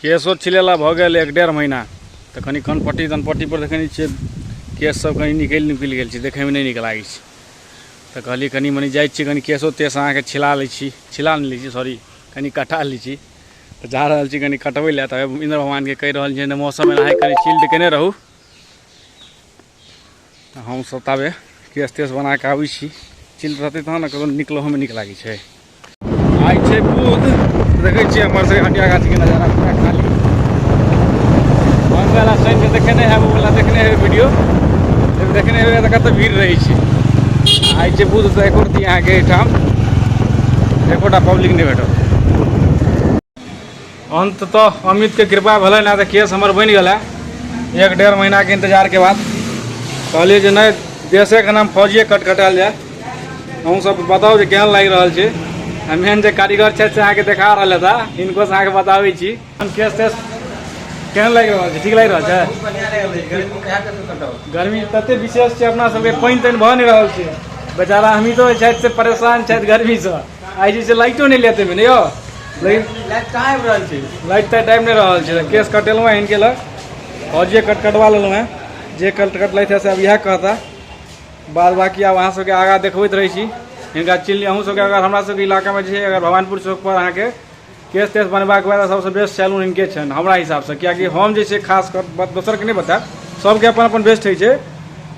केशो छिलेला भऽ गेल एक डेढ़ महीना तऽ कनि कनपट्टी तनपट्टीपर देखै नहि छियै केशसभ कनि निकलि निकलि गेल छै देखैमे नहि नीक लागै छै तऽ कहलियै कनि मनि जाइ छियै कनि केशो तेश अहाँके छिला लै छी छिला नहि लै छी सॉरी कनि कटा लै छी तऽ जा रहल छी कनि कटबै लए तऽ इन्द्र भगवानके कहि रहल छियै जे मौसम एनाहे कनि चिल्ड कयने रहू हमसभ ताबे केस तेस बना कऽ आबै छी चिल रहतै तहन ने ककरो निकलहोमे नीक लागै छै आइ छै बुध देखै छियै हमर सभके हटिया गाछीके नजारा पूरा खाली मंगला शनिके देखेने हेबै ओला देखने हेबै वीडियो देखने हेबै तऽ कतऽ भीड़ रहै छै आइ छै बुध तऽ एको रती अहाँके एहिठाम एकोटा पब्लिक नहि भेटत अंततः अमित के कृपा भले ना तो केस हमर बन गला एक डेढ़ महीना के इंतजार के बाद कहलिए जे नहीं देशे के नाम फौजिए कटकटायल जाए अहूँ सब बताओ जे केहन लागि रहल छै आ मेन जे कारीगर छथि से अहाँके देखा रहल था इनको से अहाँके बताबै छी हम केस तेस केहन लागि रहल छै ठीक लागि रहल छै बहुत बढ़िया लग रहल छै गर्मी में कहा तक कटाओ गर्मी तते विशेष छै अपना सबके पानि तानि भऽ नहि रहल छै बेचारा अमितो जे छथि से परेशान छथि गर्मीसँ आइ जे छै लाइटो नहि लेते ने यौ लेकिन लाइट कहाँ आबि रहल छै लाइट तऽ टाइम नहि रहल छै केस कटेलहुँ हँ इनके लग आओर जे कट कटवा लेलहुँ हँ जे कट कटलथि हँ से अब इएह कहता बाद बाकी आब अहाँ सबके आगाँ देखबैत रहै छी हिनका चिन्ह अहूँ सबके अगर हमरा सबके इलाकामे जे छै अगर भवानपुर चौकपर अहाँके केस तेस बनबाक बाद सबसँ बेस्ट सैलून हिनके छनि हमरा हिसाबसँ कियाकि हम जे छै खास कर बात दोसरके नहि बतायब सबके अपन अपन बेस्ट होइ छै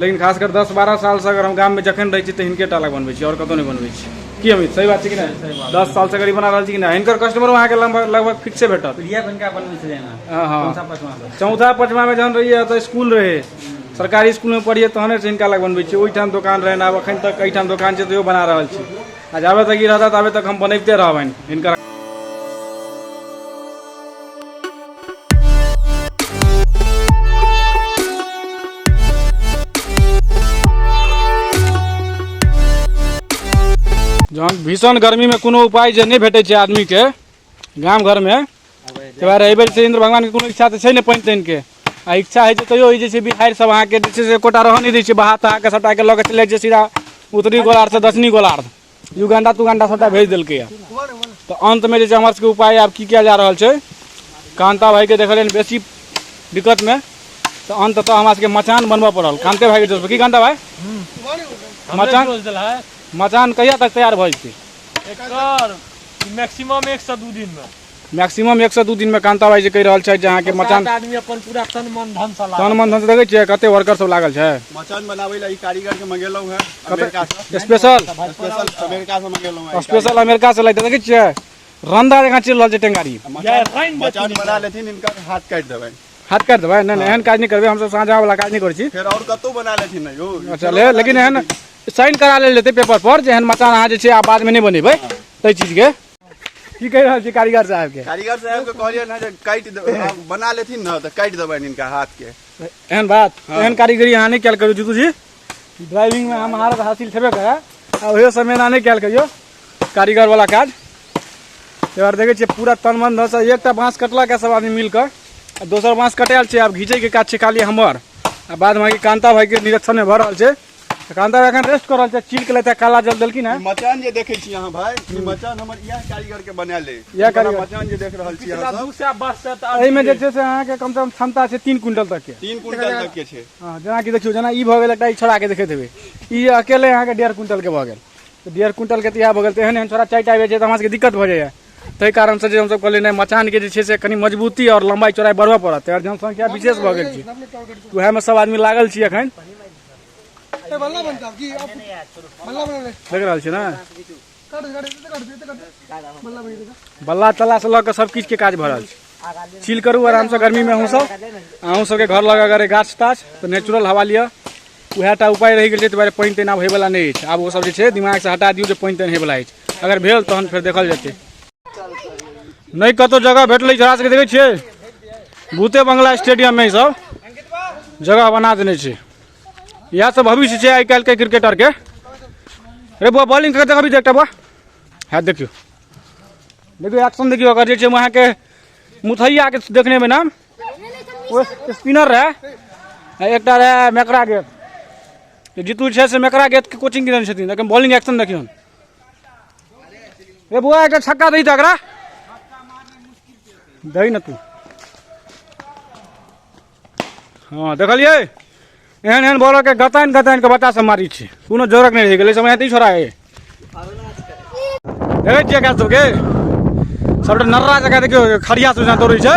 लेकिन खास कर दस बारह सालसँ अगर हम गाममे जखन रहै छी तऽ हिनके टा लग बनबै छी आओर कतहु नहि बनबै छी की अमित सही बात छै कि नहि दस सालसँ गरीब बना रहल छी कि नहि हिनकर कस्टमरो अहाँके लगभग लगभग फिक्से भेटत इहे बनका बनबै छलै ने हँ, हँ। चौथा पाँचवा से। चौथा पचमामे जहन रहियै तऽ स्कूल रहै सरकारी स्कूलमे पढ़ियै तहने से हिनका लग बनबै छी ओहिठाम दोकान रहनि आब एखन तक एहिठाम दोकान छै तैयो बना रहल छी आ जाबे तक ई रहता ताबे तक हम बनैबते रहबनि हिनकर जहन भीषण गर्मीमे कोनो उपाय जे नहि भेटै छै आदमीके गाम घरमे तोरा एहि बेर से इन्द्र भगवानके कोनो इच्छा तऽ छै ने पानि तानिके आ इच्छा होइ छै तैयो ई जे छै बिहारि सब अहाँके जे छै से एकोटा रहऽ नहि दै छै बहा तहाके सभटाके लऽ कऽ चलि जाइ छै सीधा उत्तरी गोलार्धसँ दक्षिणी गोलार्ध युगांडा तुगांडा सभटा भेज देलकैए तऽ अन्तमे जे छै हमर सबके उपाय आब की कयल जा रहल छै कान्ता भाइके देखलियनि बेसी दिक्कतमे तऽ अन्ततः हमरा सबके मचान बनबऽ पड़ल कान्ते भाइके जोरपर की कान्ता भाइ मचान मचान कहिया तक तैयार भऽ जेतै एकर मैक्सिमम एक सए दू दिनमे मैक्सिमम एक सए दू दिनमे कान्ता भाई जे कहि रहल छथि जे अहाँके मचान आदमी अपन पूरा तन मन धन सँ तन मन धन देखै छियै कते वर्कर सब लागल छै मचान बनाबै लए ई कारीगर के मंगेलहुँ है अमेरिका से स्पेशल स्पेशल अमेरिका से मंगेलहुँ है स्पेशल अमेरिका से लाइट देखै छियै रंदा जकाँ चलि रहल छै टेंगारी मचान बना लेथिन इनका हाथ काटि देबै हाथ काटि देबै नहि नहि एहन काज नहि करबै हमसब साँझावला काज नहि करै छी फेर आओर कतहु बना लेथिन यौ अच्छा लेकिन एहन साइन करा लेल जेतै पेपर पर जेहन मकान अहाँ जे छै आब बादमे नहि बनेबै ताहि चीजके की कहि रहल छी कारीगर साहबके कारीगर साहबके कहलियै ने जे काटि बना लेथिन ने तऽ काटि देबनि हिनका हाथके एहन बात हाँ। एहन कारीगरी अहाँ नहि कयल करू जीतू जी ड्राइविंगमे हम महारत हासिल छेबे करै आ ओहो समय एना नहि कयल कहियो कारीगरवला काज एहि बार देखै छियै पूरा तन मन धसँ एकटा बाँस कटलक सब आदमी मिलकर आ दोसर बाँस कटायल छै आब घीचैके काज छै खाली हमर आ बादमे कान्ता भाइके निरीक्षणमे भऽ रहल छै कांदा एखन रेस्ट करल छै चील के लेते काला जल देलखिन है मचान जे देखे छी अहाँ भाई ई मचान हमर इएह कारीगर के बनायल है इएह कारीगर मचान जे देख रहल छी अहाँ सब से वर्ष से तऽ एहि में जे छै से अहाँ के कम से कम क्षमता छै तीन क्विंटल तक के तीन क्विंटल तक के छै हाँ जेना कि देखियो जेना ई भऽ गेल एकटा ई छोड़ा के देखैत हेबै ई अकेले अहाँ के डेढ़ क्विंटल के भऽ गेल तऽ डेढ़ क्विंटल के तऽ इएह भऽ गेल तऽ एहन एहन छोड़ा चारि टा आबि जाइ छै तऽ हमरा सबके दिक्कत भऽ जाइए ताहि कारण से जे हमसब कहलियै नहि मचान के जे छै से कनि मजबूती और लंबाई चौड़ाई बढ़बऽ पड़त आओर जनसंख्या विशेष भऽ गेल छै उएह में सब आदमी लागल छी अखन देख रहल छियै ने बल्ला तल्ला से लऽ कऽ सब किछु के काज भऽ रहल छै चिल करू आराम से गर्मी में अहूँ सब अहूँ सबके घर लग अगर गाछ ताछ तऽ नेचुरल हवा लिअ उएह टा उपाय रहि गेल छै दुआरे पानि तानि आब होयवला नहि अछि आब ओ सब जे छै दिमाग से हटा दियौ जे पानि तानि होयवला अछि अगर भेल तहन फेर देखल जेतै नहि कतहु जगह भेटलै छोड़ा सभके देखै छियै भूते बंगला स्टेडियममे ईसभ जगह बना देने छै इएह सब भविष्य छै आइ काल्हिके क्रिकेटरके रे बौआ बॉलिंग करके देखबी देखटा बौआ हँ देखियौ देखियौ एक्शन देखियौ अगर जे छै अहाँके मुथैयाके देखने में नाम ओ स्पिनर रहै एकटा रहै मेकरा गेट जीतू छै से मेकरा गेटके कोचिंग देने छथिन लेकिन बॉलिंग एक्शन देखियौ ए बुआ एक छक्का दी तो अगरा दही न तू हाँ देखलिए एहन एहन बॉलर के गतान गतान के बच्चा सब मारी छे कोनो जोरक नहीं रह गए समय नहीं छोड़ा है देखे छियै गाछ सबके सबटा नर्रा जगह देखियो खड़िया सोचना दौड़े छै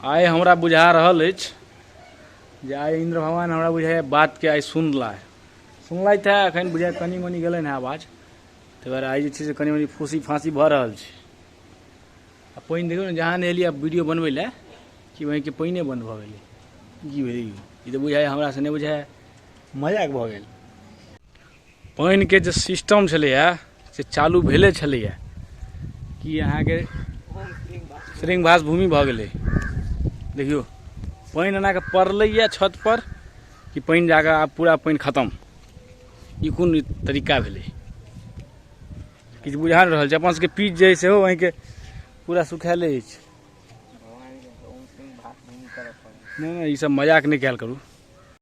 आइ हमरा बुझा रहल अछि जे आइ इन्द्र भगवान हमरा बुझाइए बातके आइ सुनला सुनला था एखन बुझाइ कनि मनि गेलनि हेँ आवाज ताहि दुआरे आइ जे छै से कनि मनि फूसी फाँसी भऽ रहल छै आ पानि देखियौ ने जहाँ नहेलियै वीडियो बनबै लए कि वहीँके पानिए बन्द भऽ गेलै की भेलै ई तऽ बुझाइए हमरासँ नहि बुझाइए मजाक भऽ गेल पानिके जे सिस्टम छलैए से चालू भेले छलैए कि अहाँके श्रृंगभास भूमि भऽ गेलै देखियौ पानि एनाके पड़लैए छतपर कि पानि जाकऽ आब पूरा पानि खतम ई कोन तरीका भेलै किछु बुझा नहि रहल छै अपन सबके पीच जे है सेहो अहींके पूरा सुखायले अछि नहि नहि ई सब मजाक नहि कयल करू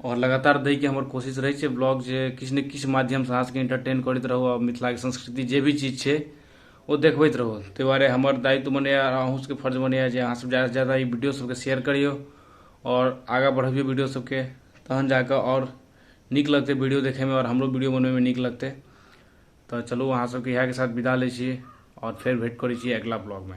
आओर लगातार दैके हमर कोशिश रहै छै ब्लॉग जे किछु ने किछु माध्यमसँ अहाँ सबके इंटरटेन करैत रहू आओर मिथिलाके संस्कृति जे भी चीज छै ओ देखबैत रहू ताहि दुआरे हमर दायित्व बनैए आओर अहूँ सबके फर्ज बनैए जे अहाँ सब जादासँ जादा ई वीडियो सबके शेयर करियौ आओर आगाँ बढ़बियौ वीडियो सबके तहन जाकऽ आओर नीक लगतै वीडियो देखैमे आओर हमरो वीडियो बनबैमे नीक लगतै तऽ चलू अहाँ सबके इएहके साथ विदा लै छी आओर फेर भेट करै छी अगिला ब्लॉगमे